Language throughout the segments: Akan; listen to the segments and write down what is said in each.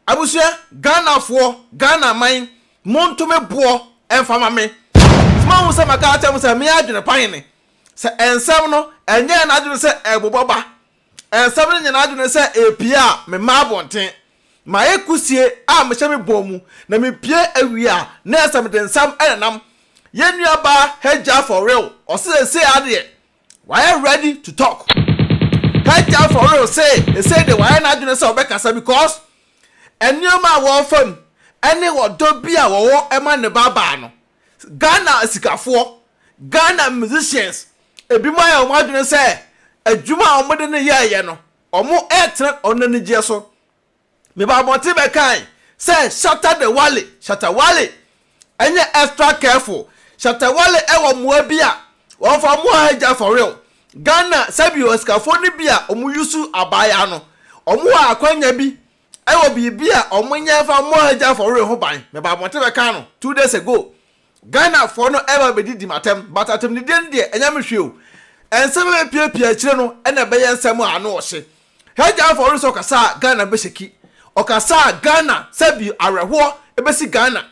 Abusua Ghana foɔ Ghana man monto me boɔ mfa ma me nti moahu sɛ maka akyerɛ mo sɛ me adwene pan ne sɛ nsɛm no ɛnyɛ yɛn adwene sɛ ɛbobɔ ba nsɛm no nyɛ yɛn adwene sɛ ɛpie a me ma abɔnten mayɛ kusie a mehyɛ me bɔn mu na me pie awie a na ɛsɛ mede nsɛm ɛnenam yɛn nua baa Hajjah for real ɔsɛ sɛsei adeɛ Wayɛ ready to talk. Kaitaa for real se esei de wayɛ n'adwene sɛ ɔbɛkasa because nneɛma a wɔrefa mu ne ɔdɔ bi a wɔwɔ ma ne babaa no. Ghana asikafoɔ, Ghana musicians, ebinom ayɛ wɔn adwene sɛ adwuma a wɔde no yɛeɛ no, wɔretena wɔn anigyeɛ so. Mebɔɔ mmɔden bɛkae sɛ Shatta the Wale, Shatta Wale, ɛnyɛ extra careful, Shatta Wale ɛwɔ mmoa bi a wɔfa mmoa hagya for real, Ghana sɛbi osikafoɔ no bi a wɔn yusu abaayaa no, wɔn wɔ akwanya bi ɛwɔ biribi a wɔn nyɛ mfa mmoa hagya for real ho ban, mebɔɔ mmɔden bɛkaa no two days ago, Ghanafoɔ no ɛreba abɛdidi m'atɛm but atɛmdidie no deɛ ɛnyɛ me hwee o. Nsɛm a bɛpiapia akyire no na ɛbɛyɛ nsɛm a ano ɔhye. Hajj Alfa Ɔdɔ sɛ ɔkasa a Ghana bɛshaki. Ɔkasa a Ghana sɛbi awerɛhoɔ bɛsi Ghana.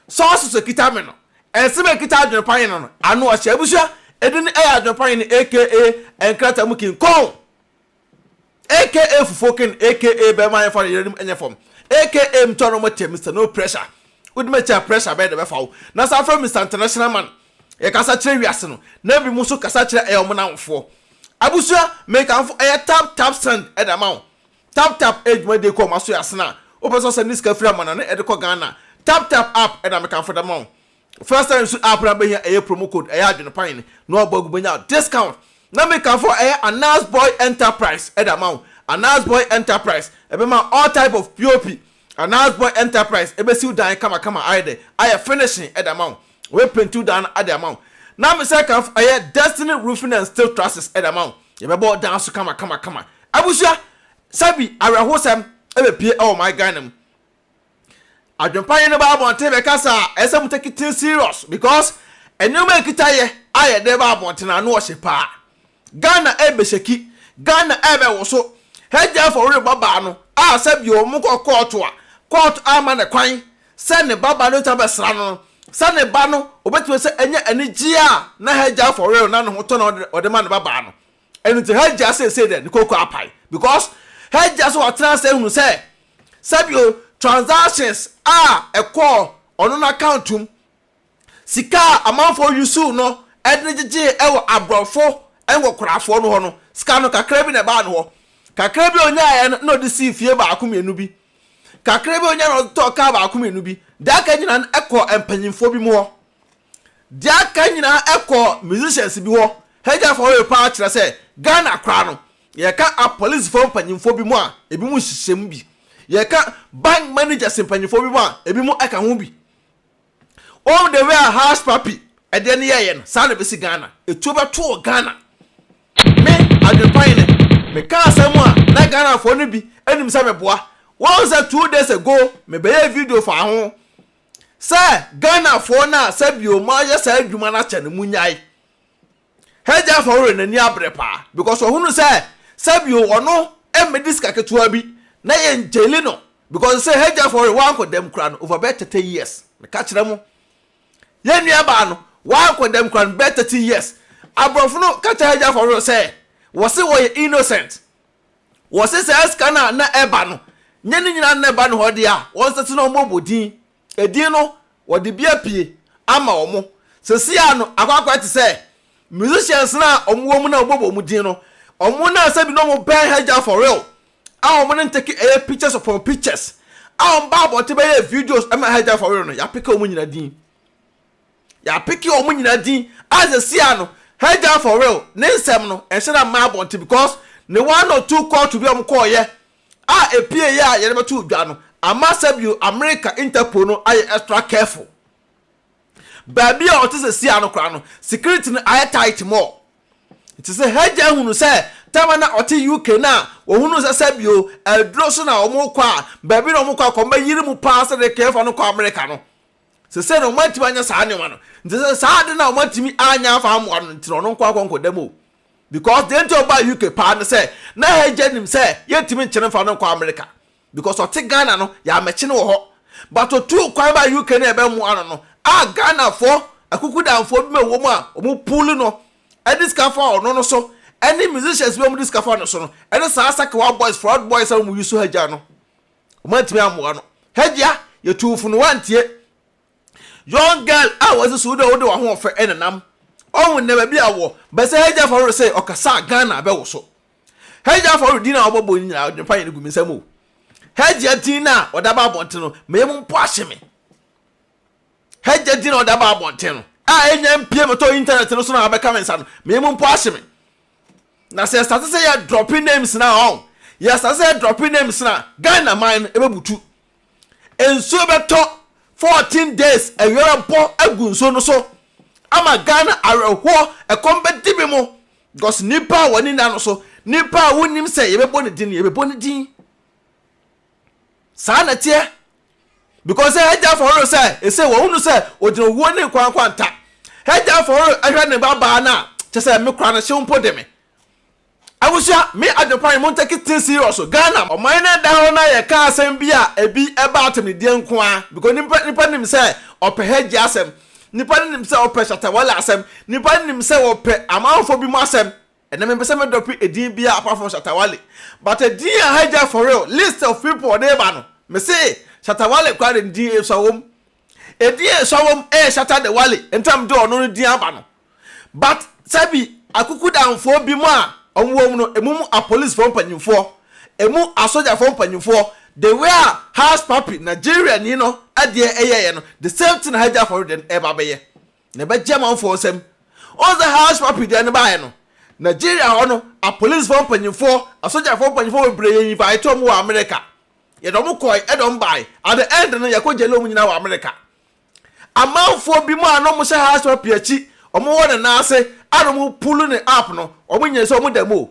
Sources a ɛkita me no, nsɛm a ɛkita adwene panyin no ano ɔhye. Abusua, ɛdin no ɛyɛ adwene panyin aka nkrataa mu king kong. Aka fufuo ken aka bɛma yɛmfa no yeranom ɛnyɛ fam aka mtɔ no mo te Mister no pressure wode me kyɛ a pressure bɛn na ɛbɛfa wo na saa frɛ Mister international man yɛkasa kyerɛ wiase no na bi mo so kasa kyerɛ ɛyɛ ɔmo namfoɔ abusua mekamfo ɛyɛ tap tap send ɛde ama wo tap tap ɛyɛ dwumadie kɔ ɔma so yɛ asena wopɛ sɛ ɔsɛnde sika firi amana no ɛde kɔ Ghana tap tap app ɛna mekamfo de ama wo First time su app na bɛhia ɛyɛ promo code ɛyɛ adwene pan ne na wabɔ agu bɛnya discount na me ka fɔ ɛyɛ Anas boy enterprise ɛde ama wo Anas boy enterprise ɛbɛma all type of pop Anas boy enterprise ɛbɛsi wo dan kama kama ayɛ dɛ ayɛ finishing ɛde ama wo ɔbɛ painti wo dan no ɛde ama wo na me sɛ ka fɔ ɛyɛ Destiny roofing and steel trusses ɛde ama wo yɛbɛbɔ wo dan so kama kama kama abusua sɛbi awerɛhosɛm ɛbɛ pie ɛwɔ my Ghana mu. Adwempa nye no ba abɔnten bɛkasa a, ɛsɛ mo take things serious because nneɛma ɛkita yɛ a yɛde ba abɔnten ano ɔhye paa. Ghana ɛɛbɛshaki, Ghana ɛɛbɛwoso. Hegyefo worebɔ baa no a sɛbi ɔmo kɔ kɔɔto a, kɔɔto amma no kwan sɛ ne ba ba no bɛtumi abɛsra no no, sɛ ne ba no obɛtumi sɛ ɛnyɛ anigyeɛ a na hegyefo were no na ne ho tɔ na ɔde ma ne ba baa no. Ɛno nti Hajjah seesei dɛ ne kooko apae because Hajjah so ɔtena ase ahunu sɛ sɛbio transactions a ɛkɔɔ ɔno n'account mu, sika a amanfoɔ usuu no de no gyegyee wɔ aborɔfo nkɔkorafoɔ no hɔ no, sika no kakra bi na ɛbaa ne hɔ. Kakra bi a ɔnyaeɛ no na ɔde sii fie baako mmienu bi. Kakra bi a ɔnyaeɛ no na ɔde tɔɔ kaa baako mmienu bi. Deɛ aka nyinaa no kɔɔ mpanyimfoɔ binom hɔ. Deɛ aka nyinaa ɛkɔɔ musicians bi hɔ Hagya Faway paa kyerɛ sɛ Ghana koraa no yɛka apolicefoɔ mpanyinfoɔ binom a ebinom nhyehyɛ mu bi yɛka bank managers mpanyinfoɔ binom a ebinom ɛka ho bi wɔn the way a Hush Puppy ɛdeɛ no yɛɛyɛ no saa na ɛbɛsi Ghana etuo bɛto wɔ Ghana me adwenpa yi ne meka asɛm a na Ghanafoɔ no bi nim sɛ meboa wɔn sɛ two days ago mebɛyɛɛ video faa ho sɛ Ghanafoɔ no a sɛbio moayɛ saa adwuma no akyɛ no monyae. Hɛgyafoɔ werɛ no ani abere paa because ɔhunu sɛ sɛbio ɔno mmɛdi sika ketewa bi na yɛn gyeli no because sɛ Hɛgyafoɔ werɛ wankɔ dɛm koraa no over bɛyɛ thirty years meka kyerɛ mo. Yɛn nuabaa no wankɔ dɛm koraa no bɛyɛ thirty years. Aborɔfo no ka kyerɛ Hɛgyafoɔ werɛ sɛ wɔse wɔyɛ innocent Wɔse saa sika no a na ɛba no nyɛ ne nyinaa na na ɛba ne hɔ de a, wɔnsɛte na wɔmmɔbɔ din. Edin no, wɔde bi apue ama wɔn. Seesei ara no, akɔ akɔyɛ te sɛ musicians no a wɔwɔ mu na wɔbɔ wɔn din no, wɔn na sɛbi na wɔbɛn Hagya for real a wɔn ne no teke ɛyɛ pictures upon pictures a wɔba abɔnten bɛyɛ videos ma Hagya for real no, yɛapeke wɔn nyinaa din. Yɛapeke wɔn nyinaa din a seesei a no Hajar for real ne nsɛm no nhyɛ da mma abɔnten because ne one or two kɔɔto bi a wɔn kɔɔyɛ a ɛpieeɛ a yɛde bɛtoo dwa no ama sɛbio America Interpol no ayɛ extra careful. Baabi a ɔte seesei a no koraa no security no ayɛ tight more. Nti sɛ Hajar hunu sɛ time a na ɔte UK no a wɔhunuu sɛ sɛbio aduro so na wɔn rekɔ a baabi na wɔn rekɔ akɔbɛyere mu paa sɛdeɛ kɛɛfa no kɔ America no Sesei no wɔatumi anya saa nneɛma no nti sɛ saa ade no a wɔatumi anya afa amoa no nti na ɔno nko akɔ nkɔda mu o. Because deɛ nti a ɔbaa UK paa ne sɛ na Hegya nim sɛ yɛntumi nkyere mfa no nkɔ America because ɔte Ghana no yɛammɛkye no wɔ hɔ but ɔtuu kwan baa UK na yɛbɛmoa no no a Ghanafoɔ akukudanfoɔ bi ma ɛwɔ mu a wɔn pull no de sika fa ɔno no so ɛne musicians bi a wɔn de sika fa no so no ɛne saa Sakewa boys, Proud boys a wɔn use Hegya no. Wɔn antumi ammoa no. Hajia, yɛtuu fo no woantie. Young girl a wɔdze suo dɛ wode w'ahoɔfɛ nenam. Ɔho nnɛ baabi a ɔwɔ, bɛsɛ Hajia Faworo sɛ ɔkasa a Ghana abɛwoso. Hajia Faworo din a wɔbɔbɔ no nyinaa ɔdwene pa yɛ no gu me nsam o. Hajia din no a wɔde aba abɔnten no, me yam mpo ahye me. Hajia din a wɔde aba abɔnten no, a ɛnnya mpue mmɛtɔ internet no so na abɛka me nsa no, me yam mpo ahye me. Na sɛ yɛstate sɛ yɛ dropping names na ɔn yɛstate sɛ yɛ dropping names na Ghana man no ɛbɛbutu. Nsuo bɛtɔ fourteen days awia bɛbɔ agu nsuo no so ama Ghana awerɛhoɔ ɛkɔm bɛdi bi mo because nipa a wɔne nna no so nipa a wonim sɛ yɛbɛbɔ ne din no yɛbɛbɔ ne din. Saa na ɛteɛ, because sɛ Hagya fɔhoro sɛ ɛsɛ wɔhunu sɛ ɔgyina owuo ne nkwa nkwanta. Hagya fɔhoro hwɛ ne ba baa no a, kyɛ sɛ me kora no hyew mpo de me. Abusua, me adwepa ne mo take things serious o, Ghana. Ɔman no da hɔ na yɛka asɛm bi a ɛbi ɛba atɛmnideɛ nko ara, because nipa nipa nim sɛ ɔpɛ Hagya asɛm, nipa no nim sɛ ɔpɛ Shatta Wale asɛm, nipa no nim sɛ wɔpɛ amanfoɔ bi mu asɛm, Ɛnɛ mempɛ sɛ me dɔpe edin biaa apart from Shatta Wale but edin a ha gya for real list of people a ɔde ba no mese Shatta Wale koraa de ne din esua wom edin a esua wom ɛyɛ Shatta de Wale nti a mede ɔno no din aba no but sɛbi akukudamfoɔ binom a ɔmo wɔ mu no emu mu apolicefoɔ mpanyinfoɔ emu asogyafoɔ mpanyinfoɔ the way a Hushpuppi Nigeriani no deɛ ɛyɛeɛ no the same thing na ha gya for real deɛ no ɛba bɛyɛ Na ɛbɛgye amanfoɔ nsam. Wohu sɛ house puppy deɛ no baeɛ no, Nigeria hɔ no, apolisifoɔ mpanyimfoɔ, asogyafoɔ mpanyimfoɔ bebree yɛ invite wɔn wɔ Amerika. Yɛde wɔn kɔe, ɛna wɔn bae. At the end no, yɛkɔ gyɛle wɔn nyinaa wɔ Amerika. Amanfoɔ binom a na wɔhyɛ house puppy akyi, wɔwɔ ne nan ase, a na wɔpulu ne up no, wɔnyɛɛ sɛ wɔda mu o.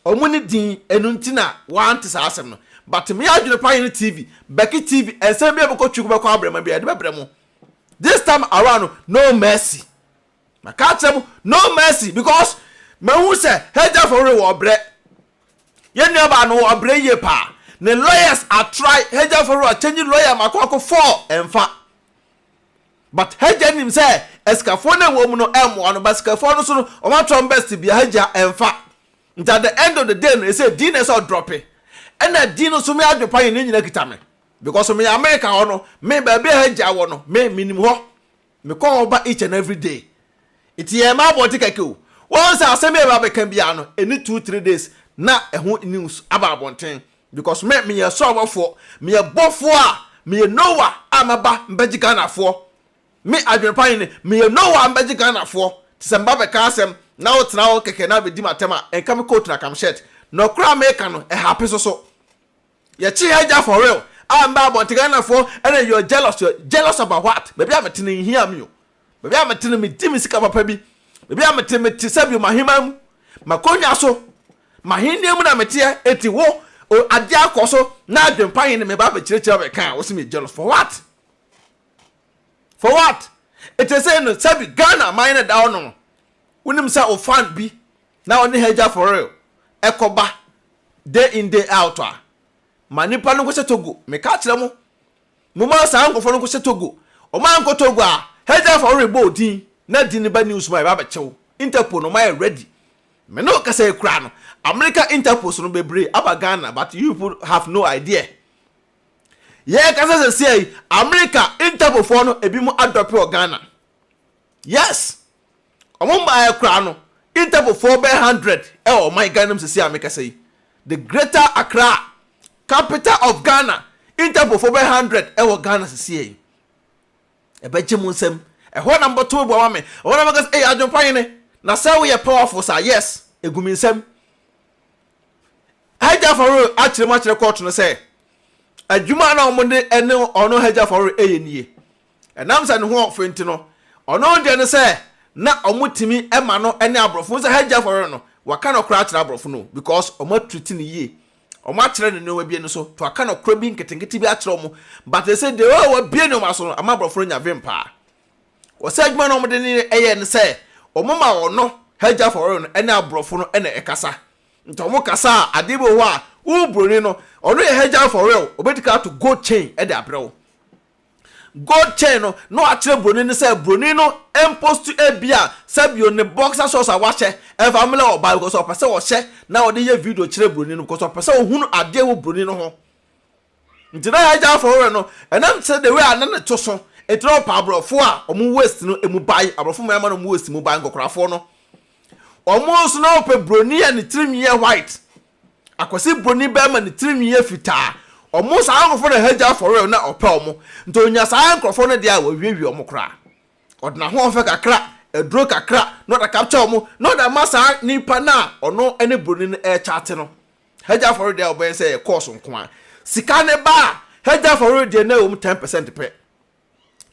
Ɔmo ne din ɛno nti na wante saa asɛm no but me adwene paa yɛ ne TV Becky TV ɛnsɛm biaa bɛkɔ twi kɔbɛkɔ abrɛma biaa yɛde bɛbrɛ mo this time around no no mercy maka akyerɛ mo no mercy because mahu sɛ Hagyafo were wɔ ɔbrɛ yɛn nuabaa no wɔ ɔbrɛ yie paa ne lawyers atry Hagyafo were ɔkyɛnyi lawyer mako ako four ɛmfa But hagya nim sɛ asikafoɔ no a ɛwɔ mu no ɛmmoa no but sikafoɔ no so no wɔn ato wɔn best bia hagya ɛmfa nti at the end of the day no ɛsɛ Dee na ɛsɛ ɔdrɔpe ɛna Dee no so me adwene pa yɛ ne nyina kita me because meyɛ America hɔ no me baabi a hagya wɔ no me menim hɔ mekɔ hɔ ba each and every day nti yɛn mma abɔnte kɛkɛ o wɔn sɛ asɛm yɛ ba bɛka biara no ɛni two three days na ɛho news aba abɔnten Because me meyɛ ɔsɔrɔbɔfoɔ, meyɛ bɔfoɔ a, meyɛ Noah a maba mbɛgye Ghanafoɔ. Me adwenepa he ne, meyɛ Noah a mbɛgye Ghanafoɔ. Te sɛ meba bɛka asɛm na wotena hɔ kɛkɛ na bɛdi m'atɛm a, nka me coat na ka me shirt. Nɔkorɛ a meeka no, ɛhape so so. Yɛkye ha gya for real a mbɛ abɔnten Ghanafoɔ na you're jealous, you're jealous about what? Baabi a mete no nhia me o. Baabi a mete no, medi me sika papa bi. Baabi a mete, mete sɛ bio m'ahemman mu, m'akonnwa so, m'ahennie mu na meteɛ. Enti wo, o, adeɛ akɔ so, na adwempa he ne me ba abɛkyerɛkyerɛ abɛka a, wose meyɛ jealous. For what? For what? Enti sei no, sɛbi Ghana man na ɛda hɔ no, wonim sɛ wo fan bi na ɔne ha gya for real, ɛkɔba day in day out a, ma nnipa no nkɔhyɛ Togo. Meka kyerɛ mo. Momma saa nkurɔfoɔ no nkɔhyɛ Togo. Wɔankɔ Togo a, Hegya fa wo rebɔ wo din na din no ba news mu a yɛbɛba abɛkyɛ wo. Interpol no wɔayɛ ready. Me ne wo kasa yi koraa no, America Interpols no bebree aba Ghana but you people have no idea. Yɛrekasa sesia yi, America Interpol foɔ no ebinom adɔpe wɔ Ghana. Yes! Ɔmo mmaeɛ koraa no, Interpol foɔ bɛyɛ hundred ɛwɔ ɔman Ghana mu sesie a me kasa yi. The greater Accra, capital of Ghana, Interpol foɔ bɛyɛ hundred ɛwɔ Ghana sesie yi. Ɛbɛ gye mo nsam, ɛhɔ na mo bɛ to mo bo ama me, ɛhɔ na mo bɛ ka sɛ ei Adwempa hene, na sɛ wo yɛ powerful saa, yes, egu me nsam. Hajj Afaroe akyerɛ mu akyerɛ court no sɛ, adwuma a na ɔmo de ɛne ɔno Hajj Afaroe ɛyɛ nie. Ɛnam sɛ ne ho ɔfɛ nti no, ɔno deɛ ne sɛ na wɔtumi ma no ne aborɔfo, wohu sɛ Hajji Afɔrɔrɔ no, waka nɔkorɛ akyerɛ aborɔfo no o because wɔatreat no yie, wɔakyerɛ no nneɛma bi ani so nti waka nɔkorɛ bi nketenkete bi akyerɛ wɔn but seesei deɛ oh wabue nneɛma aso no ama aborɔfo no anya vim paa. Wɔ sɛ adwuma no a wɔde ne yɛ ne sɛ wɔma ɔno Hajji Afɔrɔrɔ no ne aborɔfo no na ɛkasa nti wɔkasa a adeɛ bi wɔ hɔ a wo buroni no ɔno yɛ Hajji Afɔrɔrɔ wɔbɛdi kan ato gold chain de abrɛ wo. Gold chain no na wakyerɛ broni no sɛ broni no mpost ebia Sabio ne boxer shorts a wahyɛ ɛmfa mmlɛ ɔbaa because ɔpɛ sɛ ɔhyɛ na ɔde yɛ video kyerɛ broni no because ɔpɛ sɛ ohunu adeɛ wɔ broni no ho nti na yɛagya afɔ werɛ no ɛnam sɛ the way a na ne to so nti na ɔpɛ aborɔfo a ɔmo waist no emu bae aborɔfo mmaa ma na ɔmo waist mu bae nkɔkorafoɔ no ɔmo nso na ɔpɛ broni a ne tirinwi yɛ white Akwasi broni bɛɛma ne tirinwi yɛ fitaa ɔmo saa nkorɔfoɔ na hagya for real na ɔpɛ ɔmo nti onya saa nkorɔfoɔ no deɛ a wawiawia ɔmo koraa ɔde nahoɔfɛ kakra aduro kakra na ɔde akapkya ɔmo na ɔde ama saa nipa no a ɔno ne broni no ɛɛkyate no hagya for real deɛ a ɔbɛyɛ sɛ ɛyɛ course nkoaa sika no ba a hagya for real deɛ na ɛwɔ mu ten percent pɛ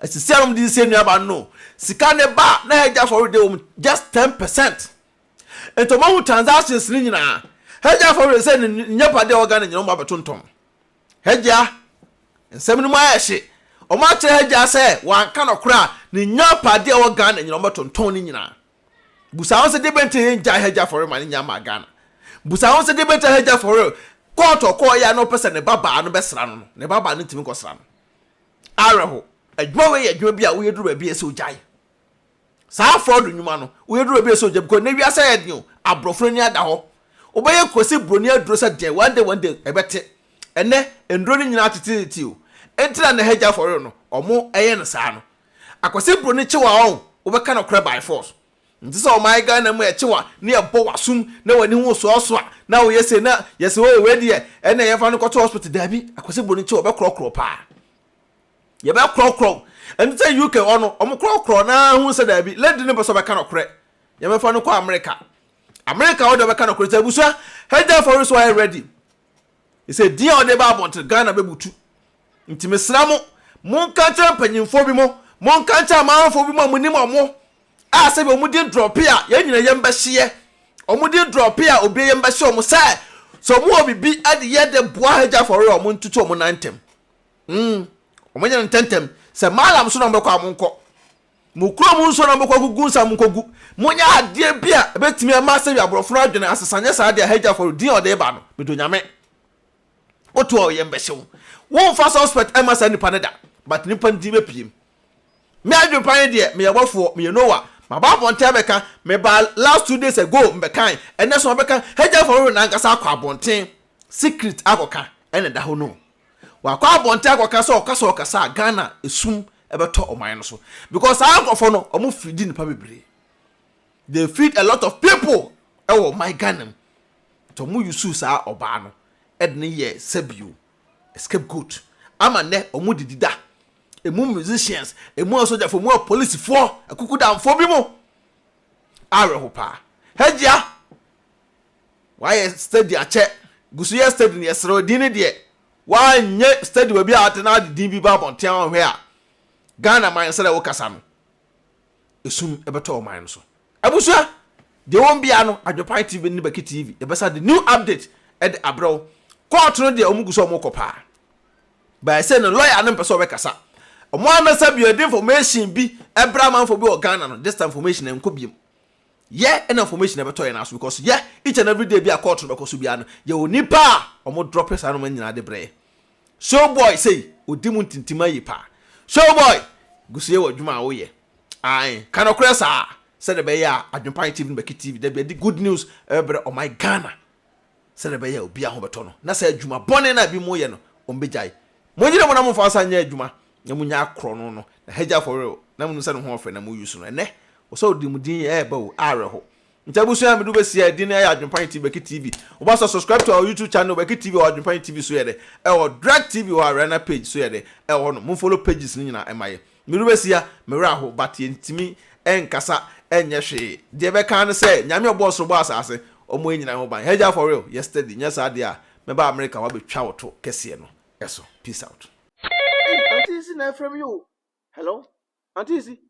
asisi a na ɔmo de siesie nnuaba no no sika no ba a na hagya for real deɛ ɛwɔ mu just ten percent. Nti ɔmo ahu transactions no nyinaa. Hagya fa were sɛ ne nyɛ pade a ɔwɔ Ghana nyinaa ɔmo abɛtontɔn. Hagya, nsɛm no mu ayɛ hye. Ɔmo akyerɛ Hagya sɛ wanka nɔkorɛ a ne nya pade a ɔwɔ Ghana nyinaa ɔmo bɛtontɔn ne nyinaa. Busa ho sɛ deɛ bɛn nti a yɛn gyae Hagya fa were ma ne nya maa Ghana. Busa ho sɛ deɛ bɛn nti a Hagya fa were court a ɔkɔɔ yɛ a na ɔpɛ sɛ ne ba baa no bɛsra no no, ne ba baa no ntumi nkɔsra no. Awerɛho. Adwuma wei yɛ adwuma bi a woyɛ duru baabi a ɛsɛ ɔgyae. Saa fraud nnwuma no, woyɛ duru obi a ɛsɛ ogya because nnɛ wiase ayɛ den o, aborɔfo no ani ada hɔ. Wobɛyɛ kwasi buroni aduro sɛ deɛn, one day one day ɛbɛte. Ɛnnɛ nnuro no nyinaa teteete o, enti na nnɛ hagya for real no wɔyɛ no saa no. Akwasi buroni kyew a ɔn, wobɛka nokorɛ by force. Nte sɛ ɔman Ghana mu a yɛkyew a na yɛbɔ w'asom na w'ani ho soasoa na woyɛ sei na yɛse oo wei deɛ ɛnneɛ yɛmfa no nkɔto hospital, daabi, akwasi buroni kyew a ɔbɛkorɔkorɔ paa. Yɛbɛkorɔkorɔ. Ɛno sɛ UK hɔ no, wɔkorɔkorɔ na hu sɛ daabi, lady no pɛ sɛ ɔbɛka nokorɛ. Yɛbɛfa no kɔ America. America hɔ deɛ ɔbɛka nokorɛ nti abusua, Hagya Afɔre so ayɛ ready. Ɛsɛ din a ɔde ba abɔnten, Ghana bɛbutu. Nti mesrɛ mo, monka nkyerɛ mpanyimfoɔ bi mo, monka nkyerɛ amanfoɔ bi mo a monim wɔn a sɛdeɛ wɔn din drɔpe a, yɛn nyinaa yam bɛhyeɛ. Wɔn din drɔpe a, obiara yam bɛhye wɔn sɛ, sɛ wɔn wɔ biribi de yɛ de boa Hagya Afɔre a, wɔntutu wɔn nan ntɛm. Mm, wɔnyɛ no ntɛmntɛm. Sɛ Malam so na mobɛkɔ a, monkɔ. Mo kurom nso na mobɛkɔ akogu nsa a, monkogu. Monyɛ adeɛ bi a ɛbɛtumi ama sɛdeɛ aborɔfo no adwene asesa nyɛ saa deɛ a Hajj afɔre din a ɔde reba no, medɔ Nyame. Woto a, ɔyam bɛhye wo. Womfa suspect mma saa nipa no da, but nnipa no din bɛpiem. Me adwenepa ne deɛ, meyɛ bɔfoɔ, meyɛ Noah, maba abɔnten abɛka, mebaa last two days ago, mebɛkae, ɛnnɛ nso mabɛka, Hajj afɔre wɔ n'ankasa akɔ abɔnten, secret akɔka, ɛna ɛda hɔ no o. Wakɔ abɔnten akɔka sɛ ɔka sɛ ɔkasa a Ghana esum ɛbɛtɔ ɔman no so because saa nkorɔfoɔ no ɔmo feedi nipa bebree they feed a lot of people ɛwɔ ɔman Ghana mu nti ɔmo usuu saa ɔbaa no ɛde no yɛɛ sɛbio scapegoat ama nnɛ ɔmo didi da emu musicians emu asogyafoɔ emu apolisifoɔ akukudamfoɔ bi mo awerɛho paa Hajia Wayɛ study akyɛ. Gu so yɛ study no. Yɛsrɛ wo, din no deɛ, woanyɛ study baabi a ate na wode din bi ba abɔnten a woanhwɛ a, Ghana man sɛdeɛ wokasa no, esum bɛtɔ wo man no so. Abusua, deɛ ɛwɔ mu biara no, Adwopan TV ne Baki TV, yɛbɛsan de new update de abrɛ wo. Court no deɛ, wɔgu so a wɔrekɔ paa. But sei no, lawyer no mpɛ sɛ ɔbɛkasa. Wɔn ara na sɛ bia yɛde information bi brɛ amanfoɔ bi wɔ Ghana no, this time information no ɛnkɔ biom. Yɛ na information ɛbɛtɔ yɛn aso because yɛ each and every day bi a court no bɛkɔ so biara no yɛwɔ nipa a ɔmo drop saa nnoɔma nyinaa de brɛ yɛ. Showboy sei odi mu ntintim ayi paa. Showboy gu so yɛ wɔ adwuma a wo yɛ. Ae ka nokorɛ saa sɛdeɛ ɛbɛyɛ a Adwenpae TV no bɛke TV da bi ɛde good news ɛbɛbrɛ ɔman Ghana sɛdeɛ ɛbɛyɛ a obiara ho bɛtɔ no na saa adwuma bɔne no a ebi mo yɛ no ɔmo bɛgyae. Mo nyere mo na mo mfa nsa nyɛ adwuma na munya akorɔ no no, n'ahagya afɔre o, na munu sɛ ne ho ɔfɛ na muyi so no, ɛnnɛ, ɔsɛ ɔde mu din ɛɛba o, awerɛho. Nti abusua a medu bɛsi a din no ɛyɛ Adwenpan TV Bɛki TV. Wobɔ sɛ subscribe to our YouTube channel Bɛki TV ɛwɔ Adwenpan TV so yɛ dɛ, ɛwɔ Drek TV wɔ Ariana page so yɛ dɛ, ɛwɔ hɔ nom. Mo follow pages no nyinaa ɛma yɛ. Medu bɛsi a, me werɛ aho but yɛntumi ɛnkasa ɛnyɛ hwee. Deɛ ɛbɛka ara ne sɛ Nyame a ɔbɔɔ soro bɔɔ asaase, ɔmmɔ yɛn nyinaa ho ban. Hagya afɔre o, yɛ steady, nyɛ saa deɛ a mɛba America hɔ abɛtwa wo to kɛseɛ no so. Peace out. Hey, Auntie Isi na ɛfrɛ me o. Hello? Auntie Isi?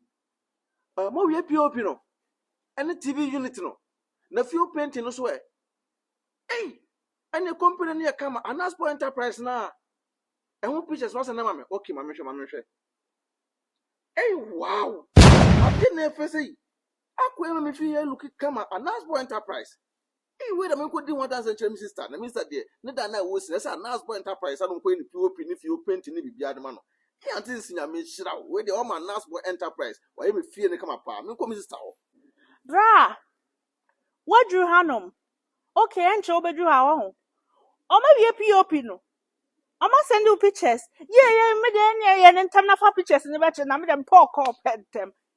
Uh, ah, mowie POP no? Ɛne TV unit no? Na fio painting no so ɛ? Hey, ɛne company no yɛ kama Anaspo Enterprise no a ɛho pictures no asɛ na ma me. Okay, ma mehwɛ, ma mehwɛ. Hey, wow! Ade na ɛfɛ sɛ yi. Akua ma mefii ha looking kama Anasbo Enterprise. Eii wei na menkɔdi ho adanseɛ nkyerɛ me sister na me sister deɛ ne da no a ɛwɔ sin ɛsɛ Anasbo Enterprise ano nkɔyɛ ne POP ne fie painting ne biribiara de ma no. Me auntie nsi Nyame nhyira wo, wei deɛ wama Anasbo Enterprise wayɛ me fie no kama paa, menkɔ me sister hɔ. Bra! Woaduru hanom? Ok, ɛnkyɛ wobɛduru ha wahu. Wɔawie POP no? Wɔasɛnde wo pictures? Yie yie, me deɛ ɛnneɛ yɛ no ntɛm na fa pictures no bɛkyerɛ na me deɛ mepɛ ɔkɔɔ pɛ ntɛm.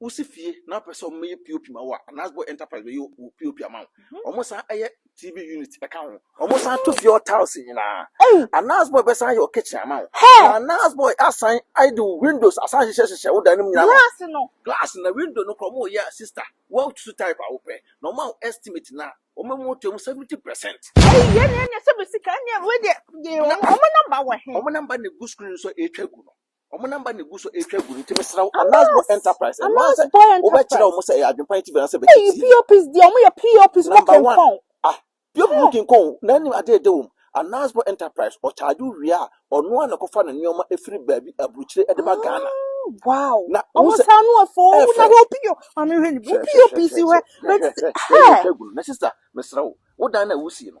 Wosi fie na wopɛ sɛ wɔyɛ POP ma wo a, Anasbo Enterprise bɛyɛ wo POP ama wo. Mhm. Wɔsan yɛ TV unit ka ho. Wɔsan to fie hɔ tiles nyinaa. Anasbo bɛsan yɛ wo kitchen ama wo. Na Anasbo asan de wo windows asan hyehyɛ hyehyɛ wo dan no mu nyinaa. Glass no. Glass na window no kora wɔyɛ a sister. Wɔatutu type a wopɛ. Na wɔn a estimate na wɔn mu to mu 70%. Ɛyi yɛ ne ɛnyɛ sɛ bɛ sika ɛnyɛ wei deɛ. Wɔn namba wɔ he? Wɔn namba na egu screen so a ɛretwa gu no. Wɔn namba na egu so retwa gu no nti mesrɛ wo Anas Boy Enterprise ɛno ara sɛ wobɛkyerɛ wɔn sɛ ɛyɛ adwempa nti bɛn sɛ bɛkyɛ tii. POPs deɛ wɔn yɛ POPs mo kenkɔn. Ah POP mo kenkɔn na anim adeɛ de wɔm Anas Boy Enterprise ɔcharge wo wie a ɔno ara na ɛkɔfa ne nneɛma ɛfiri baabi aburukyire ɛde ba Ghana. Wow na wɔn sɛ saa no afɔ wɔn na hwɛ opio maame hwɛ ne POPs hwɛ hwɛ hwɛ hwɛ yɛ twa gu no na sister mesrɛ wo wo dan na wusie no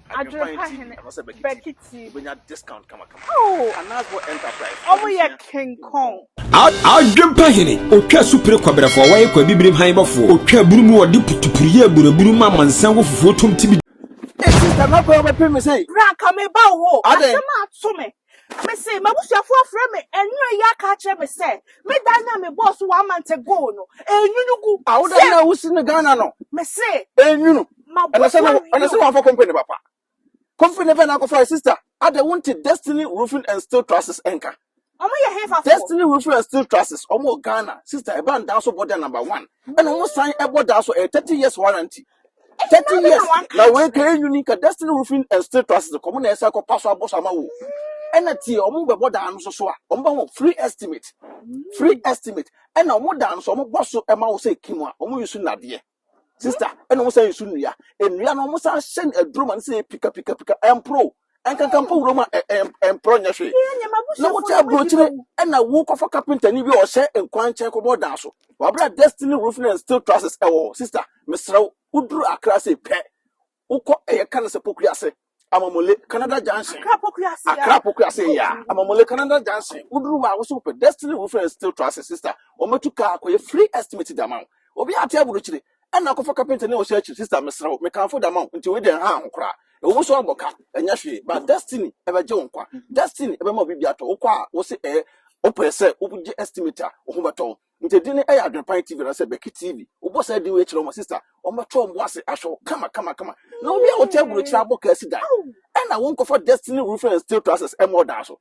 Adwerefa hene Bɛkiti. Oh, ɔmo yɛ King Kong. Adwerefa hene otwa supire kɔbrɛfɔ wɔyɛ kɔ abibire hann bɔfoɔ otwa aburu mu wɔde putupuru yɛ aburu aburu mu amansan wɔ fufuo tom tibidi. Hey sister, mɛkɔ ɔbɛpem me sɛn? Bra nka meba wo hɔ, asɛm ato me. Mese m'abusuafoɔ afrɛ me nnora yi aka akyerɛ me sɛ me dan no a mebɔɔ so one month ago no ɛnwunu gu a woda sɛ no a wosi no ghana no mese ɛnwunu ɛna mabɔ sɛ so no ɛna awie sɛ o wɔamfa company papa company bɛn na akɔfa sister ada wonte destiny roofing and steel trusses ɛnka ɔmo yɛ hefafoɔ destiny roofing and steel trusses ɔmo wɔ ghana sister ɛba ndaa so bɔ da number one ɛna ɔmo san ɛbɔ daa so ɛyɛ 30 years warranty Thirty years na wei ka enyuni ka destiny roofing and steel trusses de kɔm na ɛsɛ kɔ paso abɔ so ama wo ɛna tie wɔn bɛbɔ dan no so so a wɔn bɛ ho free estimate free estimate ɛna wɔn dan no so wɔn bɔ so ɛma wo sɛ kim a wɔn yi so nadeɛ sista ɛna wɔn san yi so nnua nnua no wɔn san hyɛ no aduro ma no sɛ pika pika pika ɛmpro ɛnkanka mpo wuram a ɛmporɔ nyɛ hwee na wote aburokyire ɛna wokɔfa kapentani bi a ɔhyɛ nkwan nkyɛn kɔbɔ dan so wabra destiny roofing and steel trusses ɛwɔ sister mesrɛ wo woduru akra se pɛ wokɔ ɛyɛ ka no sɛ pokua ase amamole canada junction akra pokua ase ya amamole canada junction woduru hɔ a woso pɛ destiny roofing and steel trusses sister wɔmɛtu kaa kɔyɛ free estimate dama wo obi ate aburokyire ɛnna akɔfa kapenta ne ɔhyɛ akyiri sista mesrɛ wo mekamfo da ma wo nti wei deɛ nhaa ho koraa ɛwɔ mu so abɔ ka ɛnyɛ hwee but destiny ɛbɛgye wo nkwa destiny ɛbɛma wo biribi atɔ wokɔ a wo se ɛɛ wopɛ sɛ wogye estimate a wo ho bɛtɔ wo nti din no ɛyɛ adwenepan tv na sɛ bɛki tv wobɔ saa din wei kyerɛ wo ma sista wɔbɛtɔ wɔn bo ase ahwɛ wo kama kama kama na obi a wote aburokyerɛ abɔ ka asi dan ɛnna wonkɔfa destiny roofing and steel trusses ɛmmɔ ɔdaa so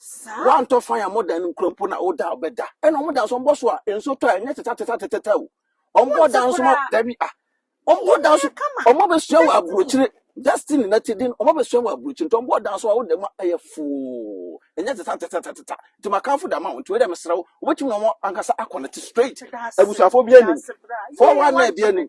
Woantɔ fan a modan no nkura mpo na woda a wobɛda. Ɛna wɔn dan so wɔbɔ so a nsuo tɔ a ɛnyɛ tetatatatata o. Wɔbɔ dan so ma dabi a. Wɔbɔ dan so wɔn abɛsua wɔ aburokyire Destiny na ti den wɔn abɛsua wɔ aburokyire nti wɔbɔ dan so a woda mu a ɛyɛ foo ɛnyɛ tetatatatata nti makanfo da ma wɔn nti wei dɛ mesrɛ wo wobɛtumi na wɔn ankasa akɔnɛte straight abusuafoɔ bi anim four one nine bi anim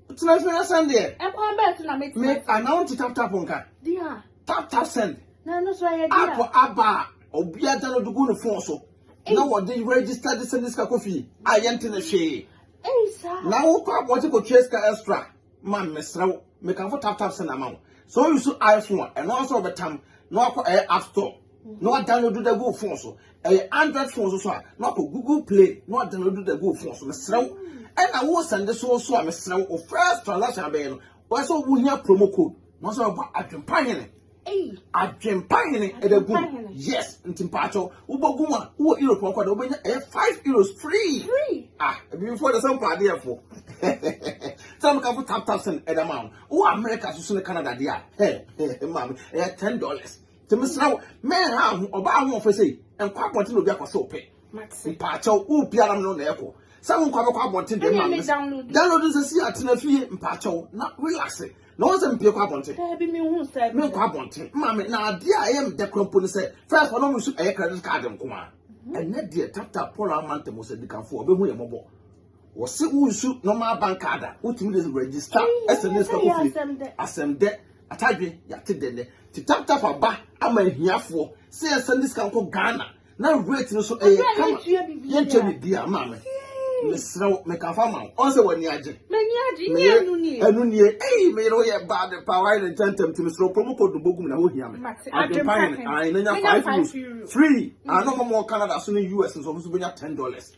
Tena fi na send deɛ. Ɛkwan bɛɛ so na me tena. Me ana wo ti tap tap nka. Dia. Tap tap send. Na ɛno so ɛyɛ dia. App aba a obi ada no de gu ne phone so. Na wɔde register de send sika kɔ fie. A yɛnte ne hwee. Ei saa. Na wo kɔ abɔnte kɔ tua sika extra. Ma mesrɛ wo. Mekamfo tap tap send ama wo. So you so iPhone a ɛno nso ɔbɛtam na wakɔ ɛyɛ app store. na wadownload da gu wo phone so ɛyɛ android phone so so a na wakɔ google play na wadownload da gu wo phone so mesrɛ wo ɛna wo sɛnde so so a mesrɛ wo first transaction abɛyɛ no wɔyɛ sɛ wohia promo code na wɔsɛ wɔbɔ adwempa hene adwempa hene ɛda gu yes nti mpaakyɛw wobɛgu mu a wowɔ europe ɔkɔ da wobɛnya ɛyɛ five euros free ah ebibifoɔ de sɛ mpaadeɛfoɔ sɛ meka fo tap tap sɛn ɛda ma wo wowɔ america so so ne canada deɛ a ɛ ɛ maame ɛyɛ ten dollars Nti mesrɛ wo, menha aho, ɔbaa ahoɔfɛ sei, nkɔ abɔnten na obi akɔhwɛ wo pɛ. Mpaakyɛw, wo pia nam no na ɛkɔ. Sɛ wo nkɔ abɛkɔ abɔnten deɛ ma mes. Download no sɛ si atena fie mpaakyɛw na relax. Na wɔn sɛ mpie kɔ abɔnten. Daabi me hu sɛ. Me nkɔ abɔnten. Ma me na adeɛ a ɛyɛ me dɛ kora mpo ne sɛ first wɔn nso ɛyɛ credit card nko a. Ɛnɛ deɛ tap tap pɔla ama ntɛm sɛ dikanfoɔ ɔbɛhu yɛ mɔbɔ. Wɔse wonsu normal bank card a wotumi de register ɛsɛ ne sika kofie asɛm dɛ atadwe yɛate dɛ nɛ ti tap tap aba ama ahiafoɔ sɛ yɛsɛ ne sika nkɔ Ghana na rate no so ɛyɛ kama yɛntua biribi a maame mesrɛ wo mekafa ma wo ɔn sɛ w'ani agye meyere ɛno nie ei meyere woyɛ baa de paa wayɛ ne ntɛntɛm ti mesrɛ wo promo code bɔ gum na hɔ hia me adwempa hene ayɛ na nya 5 euros free ano mɔmɔ Canada so ne US nso ɔmo so bɛnya 10 dollars